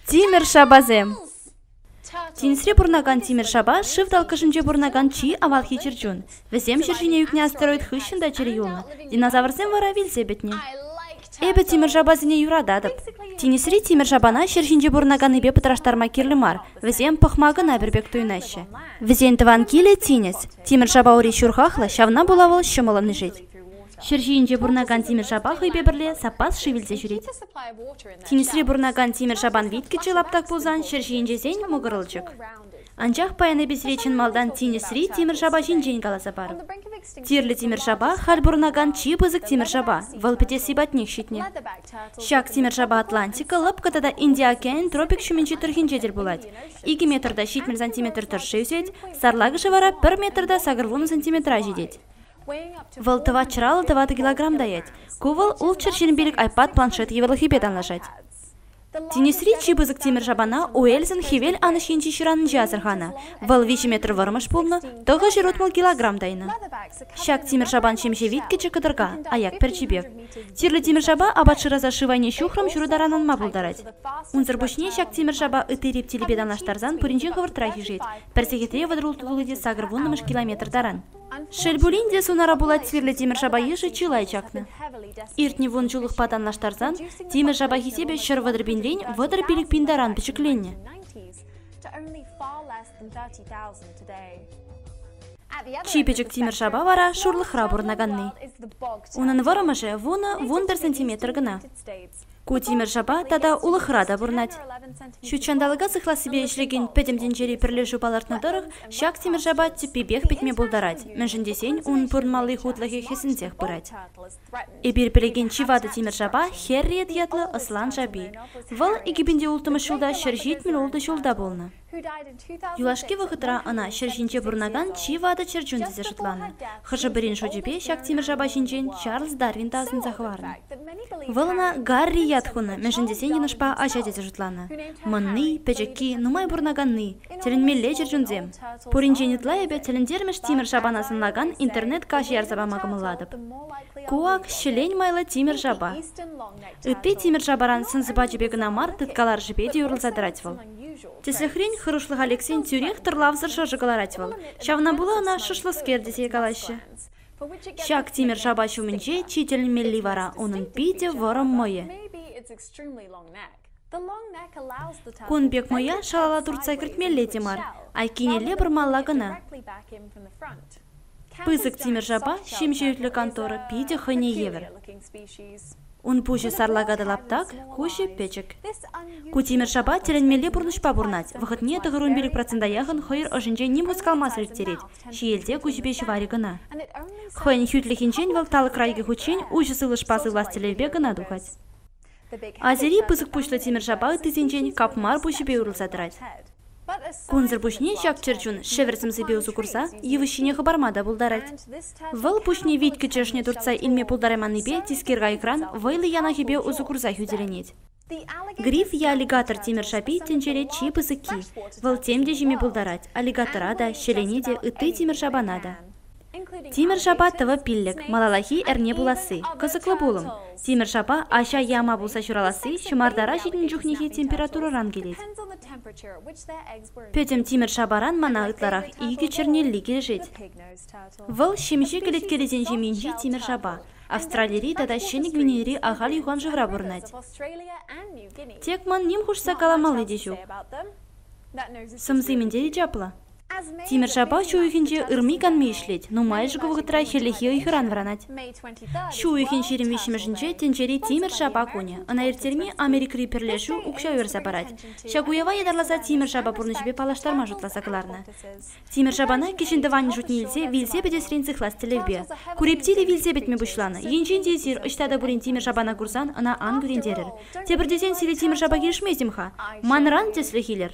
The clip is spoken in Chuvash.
Тимӗр шапасем Тинӗсре пурӑнакан тимӗр шапа шыв талккӑшӗнче пурӑнакан чи авалхи чӗрчун. Вӗсем ҫӗр ҫине ӳкнӗ астероид хыҫҫӑн та чӗрӗ юлнӑ, динозаврсем вара вилсе пӗтнӗ. Эпӗ тимӗр шапасене юрататӑп. Тинӗсри тимӗр шапана ҫӗр ҫинче пурӑнаканнипе пӑтраштарма кирлӗ мар, вӗсем пӑхма кӑна пӗр пек туйӑнаҫҫӗ. Вӗсен тӑван килӗ тинӗс. Тимӗр шапа ури ҫурхахлӑ, ҫавна пула вӑл ҫӑмӑллӑн ишет. Ҫӗр ҫийӗнче пурӑнакан тимӗр-шапа хӑйпе пӗрле саппас шыв илсе ҫӳрет. Тинӗсре пурӑнакан тимӗр-шапан виткӗччӗ лаптак пулсан ҫӗр ҫийӗнчесен мӑкӑрӑлчӑк. Анчах паян эпӗ сире чӑн малтан тинӗсри тимӗр-шапа ҫинчен каласа парӑп. Тирлӗ тимӗр-шапа халь пурӑнакан чи пысӑк тимӗр-шапа, вӑл пӗтесси патнех ҫитнӗ. Ҫак тимӗр-шапа Атлантика, лӑпкӑ тата Индия океанӗн тропик ҫумӗнчи тӑрӑхӗнче тӗл пулать. Икӗ метрта ҫитмӗл сантиметр тӑршши ӳсет, сарлакӑшӗ вара пӗр метрта сакӑр вунӑ сантиметра ҫитет. Вӑл тӑватҫӑра ал тӑватӑ килограмм таять. Ку вӑл ултҫӗр ҫын пилӗк айпад планшет йывӑрлӑхӗпе танлашать. Тинӗсри чи пысӑк тимӗр шапана Уэльсӑн хӗвел анӑҫ енчи ҫыранӗнче асӑрханӑ. Вӑл виҫӗ метр вӑрмӑш пулнӑ, тӑхӑҫ ырутмӑл килограмм тайнӑ. Ҫак тимӗр шапан ҫемҫе вит кӗчӗк кӑтӑрка, аяк пӗрчипе. Тирлӗ тимӗр шапа апат шыраса шыв айне ҫухрӑм ҫурӑ таран анма пултарать. Унсӑр пуҫне ҫак тимӗр шапа ытти рептилипе танлаштарсан пуринчен хӑвӑртрах ишет, пӗр сехетре вӑтӑр ултӑ тулли те сакӑр вуннӑмӗш километр таран. Шел пулин те, сунара пулать свирлӗ тимӗр-шапа йышӗ чылай чакнӑ. Иртнӗ вун ҫуллӑхпа танлаштарсан тимӗр-шапа хисепӗ ҫӗр вӑтӑр пинрен вӑтӑр пилӗк пин таран пӗчӗкленнӗ. Чи пӗчӗк тимӗр-шапа вара шурлӑхра пурӑнаканни. Унӑн вӑрӑмӑшӗ вунӑ-вун пӗр сантиметр кӑна. Ку тимӗр-шапа тата улӑхра та пурӑнать. Ҫутҫанталӑка сыхлассипе ӗҫлекен пӗтӗм тӗнчери пӗрлешӳ палӑртнӑ тӑрӑх, ҫак тимӗр-шапа тӗппипех пӗтме пултарать, мӗншӗн тесен ун пурӑнмалли хутлӑхӗ хӗсӗнсех пырать. Эпир пӗлекен чи ватӑ тимӗр-шапа Херриет ятлӑ ӑслан шапи. Вӑл икӗпинче улттӑмӗш ҫулта ҫӗр ҫитмӗл ултӑ ҫулта пулнӑ. Юлашки вӑхӑтра ӑна ҫӗр ҫинче пурӑнакан чи ватӑ чӗрчун тесе шутланӑ. Хӑшӗ-пӗрин шучӗпе ҫак тимӗр шапа ҫинчен Чарльз Дарвин та асӑнса хӑварнӑ. Вӑл ӑна Гарри ят хунӑ, мӗншӗн тесен йӑнӑшпа аҫа тесе шутланӑ. Мӑнни, пӗчӗкки, нумай пурӑнаканни, тӗлӗнмелле чӗрчунсем. Пуринчен ытла эпӗ тӗлӗнтермӗш тимӗр шапана сӑнлакан интернет-каҫӑ ярса пама кӑмӑллатӑп. Ку ак ҫӗлен майлӑ тимӗр шапа. Ытти тимӗр шапаран сӑн-сӑпачӗпе кӑна мар, тыткаларӑшӗпе те юрлса тӑрать вӑл. Тӗслӗхрен, хӑрушлӑха лексен тӳрех тӑрлавсӑр шӑршӑ кӑларать вӑл. Ҫавна пула ӑна шӑшлӑскер тесе калаҫҫӗ. Ҫак тимӗр шапа ҫумӗнче чи тӗлӗнмелли вара унӑн питӗ вӑрӑм мӑйӗ. Кун пек мӑя шалала туртса кӗртмелле те мар, айккинелле пӑрмалла кӑна. Пысӑк тимӗр-шапа ҫемҫе ӳтлӗ кантора питӗ хӑйне евӗр. Ун пуҫӗ сарлака та лаптак, куҫӗ пӗчӗк. Ку тимӗр-шапа тӗлӗнмелле пурнӑҫпа пурӑнать, вӑхӑтне тӑхӑрун пилӗк процента яхӑн хӑйӑр ӑшӗнче ним хускалмасӑр ирттерет, ҫиелте куҫӗпе ҫӑварӗ кӑна. Хӑйӗн хӳтлӗхӗнчен вӑл талӑкра икӗ хутчен уҫӑ сывлӑшпа сывлас тӗллевпе кӑна тухать. Азири пысӑк пуҫлӑ тимӗр-шапа ыттисенчен капмар пуҫӗпе урӑлса тӑрать. Кунсӑр пуҫне ҫак чӗрчун шӗвӗр сӗмсипе усӑ курса йывӑҫ ҫине хӑпарма та пултарать. Вӑл пуҫне вит кӗчешне туртса илме пултарайманнипе тискер кайӑкран вӑйлӑ янахӗпе усӑ курса хӳтӗленет. Гриф е аллигатор тимӗр-шапи тӗнчере чи пысӑкки. Вӑл тем те ҫиме пултарать аллигатора та, ҫӗлене те, ытти тимӗр-шапана та. Тимӗр-шапа тӑвӑ пиллӗк, малаллахи эрне пуласси, кӑсӑклӑ пулӑм. Тимӗр-шапа аҫа яма пулса ҫураласси ҫӑмартара ҫитӗн чухнехи температурӑран килет. Пӗтӗм тимӗр-шапаран мана ытларах икӗ чернелли килӗшет. Вӑл ҫемҫе кӗлеткелесен ҫемйинчи тимӗр-шапа. Австралири тата Ҫӗнӗ Гвинейӑри ахаль юхан шывра пурӑнать. Тек ман ним хушса каламалли те ҫук. Сӑмси мӗнтен чаплӑ? Тимӗр-ҫапа ҫу уйӑхӗнче ырми-канми ӗҫлет. Нумайӑшӗ ку вӑхӑтра хӗллехи ыйхӑран вӑранать. Ҫу уйӑхӗн ҫирӗм виҫҫӗмӗшӗнче тӗнчери тимӗр-ҫапа кунӗ. Ӑна ирттерми Америкӑри пӗрлешӳ укҫа уйӑрса парать. Ҫак уява ятарласа тимӗр-ҫапа пурнӑҫӗпе паллаштарма шутласа кӑларнӑ. Тимӗр-ҫапана кӗҫӗн тӑванӗн шутне илсе вилсе пӗтесрен сыхлас тӗллевпе. Курептиле вилсе пӗтме пуҫланӑ. Енчен те эсир ӑҫта та пулин тимӗр-ҫапана курсан ӑна ан кӳрентерӗр. Тепӗр тесен сире тимӗр-ҫапа килӗшместӗм-ха. Манран тӗслӗх илер.